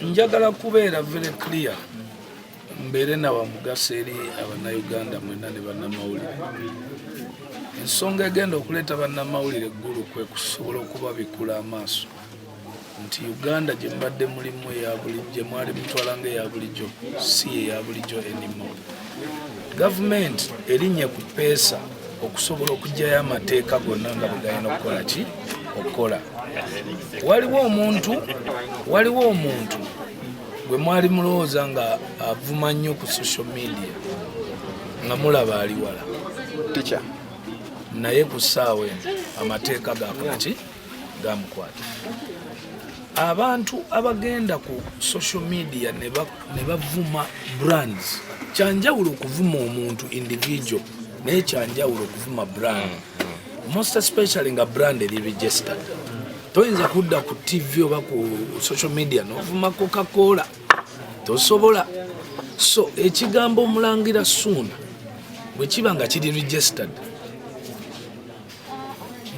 njagala kubeera very clear mbeere na wamugaso eri abannayuganda mwena ne bannamawulire ensonga egenda okuleeta bannamawulire eggulu kwe kusobola okubabikula amaaso nti uganda gye mbadde mulimu eya bulijjo mwali mutwala nga eya bulijjo si eya bulijjo enimo gavumenti erinye ku peesa okusobola okugyayo amateeka gonna nga bwegalina okukola ki okukola waliwo omuntu waliwo omuntu gwe mwali mulowooza nga avuma nnyo ku social media nga mulaba ali wala naye ku ssaawa eno amateeka gakolaki gamukwata abantu abagenda ku social media ne bavuma brands kyanjawulo okuvuma omuntu individual naye kyanjawulo okuvuma brand mm, mm. most especially nga brand eri registered toyinza kudda ku tv oba ku social media novuma cocacola tosobola so ekigambo omulangira suuna bwekiba nga kiri registered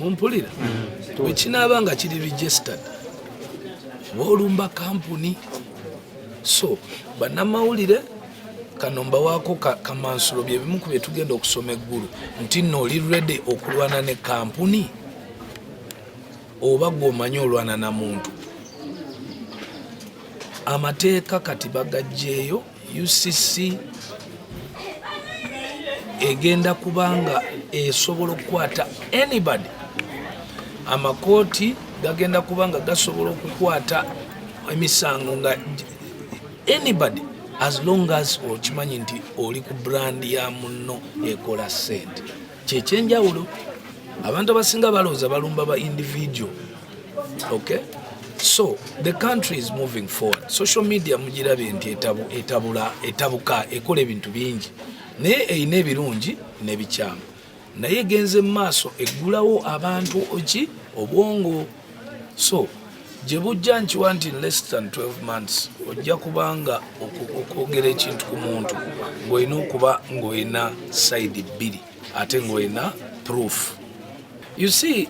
mumpulira mm. wekinaaba nga kiri registered wolumba kampuni so banamawulire kano mbawaako kamansulo byebimu ku byetugenda okusoma eggulu nti nno oli redi okulwana ne kampuni oba gwomanyi olwana na muntu amateeka kati bagajjeeyo UCC egenda kubanga esobola okukwata anybody amakooti gagenda kubanga gasobola okukwata emisango nga anybody as long as okimanyi nti oli ku brand ya munno ekola sente kyekyenjawulo abantu abasinga balowooza balumba ba individual okay so the country is moving forward social media mugirabye nti etabula etabuka ekola ebintu bingi naye erina ebirungi n'ebikyamu naye genze mu maaso eggulawo abantu ki obwongo so gye bujja nkiwa nti less than 12 months ojja kubanga okwogera ekintu ku muntu ng'olina okuba ng'olina sayidi bbiri ate ng'olina proof you see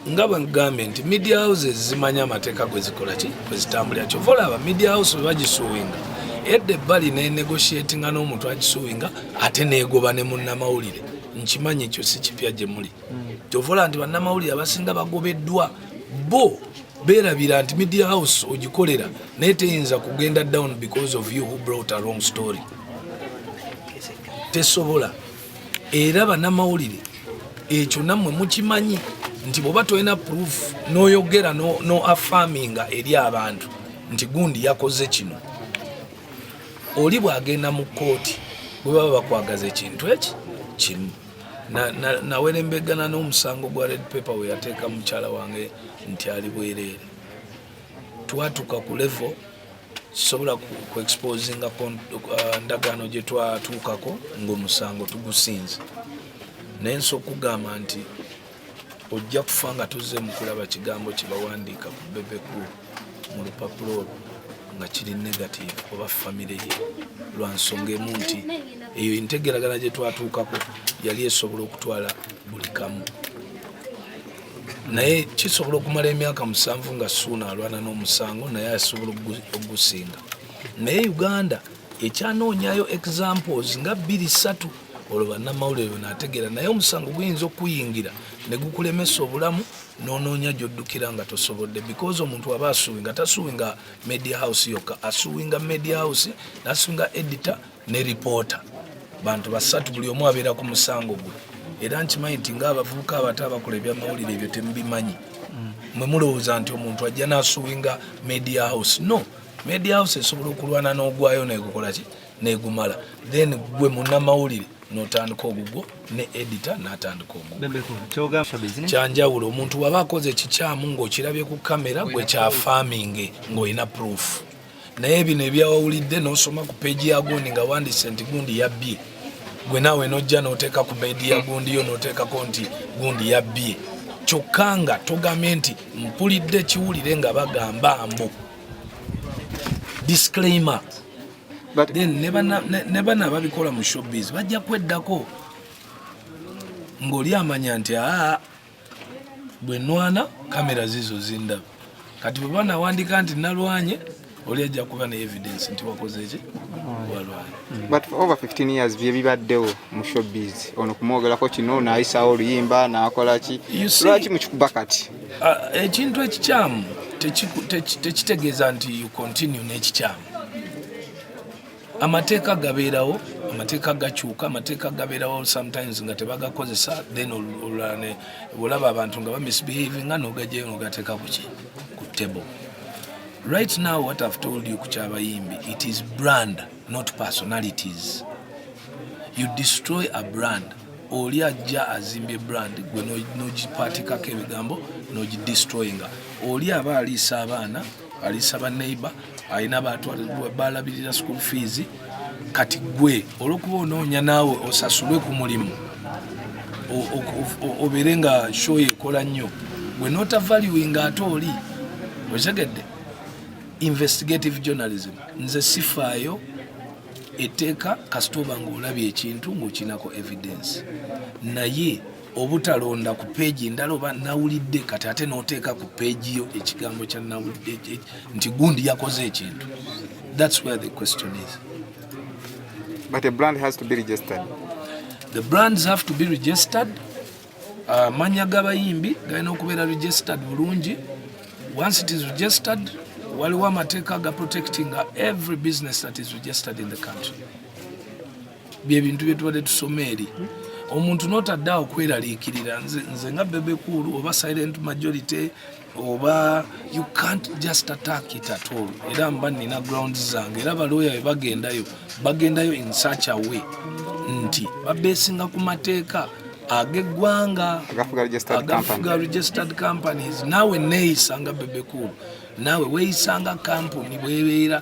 nga bwegambye nti media houses zimanya amateeka gwe zikola ki gwe zitambulira kyova olaba media house bwe bagisuwinga edda ebbali nenegotiatinga n'omuntu agisuwinga ate neegoba ne munnamawulire nkimanyi ekyo si kipya gye muli kyovola nti bannamawulire abasinga bagobeddwa bo berabira nti media house ogikolera naye teyinza kugenda down because of you who brought a wrong story tesobola era banamawulire ekyo nammwe mukimanyi nti bwoba tolina proof noyogera no afaminga eri abantu nti gundi yakoze kino oli bwagenda mu kooti bwebaba bakwagaza ekintu eki kimu nawerembegana na, na n'omusango gwa red paper we yateeka mukyala wange nti ali bwereere twatuka ku level sobola ku exposinga uh, ndagaano gye twatuukako ng'omusango tugusinze naye nsi okugamba nti ojja kufa nga tuzze mu kulaba kigambo kye bawandiika ku bebeku mu lupapula olwo nga kiri negative oba famire ye lwa nsonga emu nti eyo entegeragana gye twatuukako yali esobola okutwala buli kamu naye kisobola okumala emyaka musanvu nga suuna alwana n'omusango naye asobola okugusinga naye uganda ekyanoonyayo examples nga bbiri ssatu olwo bannamawulire benategeera naye omusango guyinza okuyingira ne gukulemesa obulamu n'onoonya gy'oddukira nga tosobodde because omuntu aba asuwinga tasuwinga media house yokka asuwinga media house nasuwinga editor ne reporter bantu basatu buli omu abeera ku musango gwe era nkimanyi nti ngaabavubuka abato abakola ebyamawulire ebyo temubimanyi mm. mwe mulowooza nti omuntu ajja n'asuwinga media house no media house esobola okulwana n'ogwayo negukola ki negumala then gwe munnamawulire notandika ogugwo ne edita natandika ogukyanjawulo omuntu waba akoze ekikyamu ngaokirabye ku kamera gwe kya farminge ngaolina proof naye bino ebyawawulidde nosoma ku peji ya gundi nga wandise nti gundi yabbye gwe naawe nojja noteeka ku bedi ya gundi yo noteekako nti gundi yabbye kyokka nga togambye nti mpulidde kiwulire nga bagamba mbu disclaimer But, then ne bana babikola mu showbiz bajja kweddako ng'oli amanya nti aa bwe nwana kamera zizo zindaba kati bwe banawandika nti nalwanye oli ajja kuba ne evidence nti wakoze eki byebibaddewo mu showbiz ono kumwogerako kino nayisawo oluyimba nakolaki lwaki mukikuba kati Ah, ekintu ekikyamu tekitegeeza nti you continue n'ekikyamu amateeka gabeerawo amateeka gakyuka amateeka gabeerawo sometimes nga tebagakozesa then olulane olaba abantu nga bamisbehavinga nogajayo nogateeka kuki ku table right now what i've told you ku kyabayimbi it is brand not personalities you destroy a brand oli ajja azimbye brand gwe nogipatikako ebigambo nogidestroyinga oli aba aliisa abaana aliisa baneighbor alina balabirira school fees kati gwe olwokuba onoonya naawe osasulwe ku mulimu obeere nga show ekola nnyo gwe nota valuinga ate oli okitegedde investigative journalism nze sifaayo etteeka kasita oba ng'olabye ekintu ng'okinako evidence naye obutalonda ku peegi endala oba nawulidde kati ate n'oteeka ku peegi yo ekigambo kya nawulidde nti gundi yakoze ekintu that's where the question is but a brand has to be registered the brands have to be registered amannya ah, g'abayimbi galina okubeera registered bulungi once it is registered waliwo amateeka ga protecting every business that is registered in the country byebintu byetubadde tusoma eri omuntu notadde awo kweraliikirira nze nga bebekuulu oba silent majority oba you can't just attack it at all era mba nina ground zange era balooya be bagendayo bagendayo in such a way nti babesinga ku mateeka ageggwanga agafuga registered companies naawe neeyisanga bebekulu naawe weeyisanga kampuni bwebeera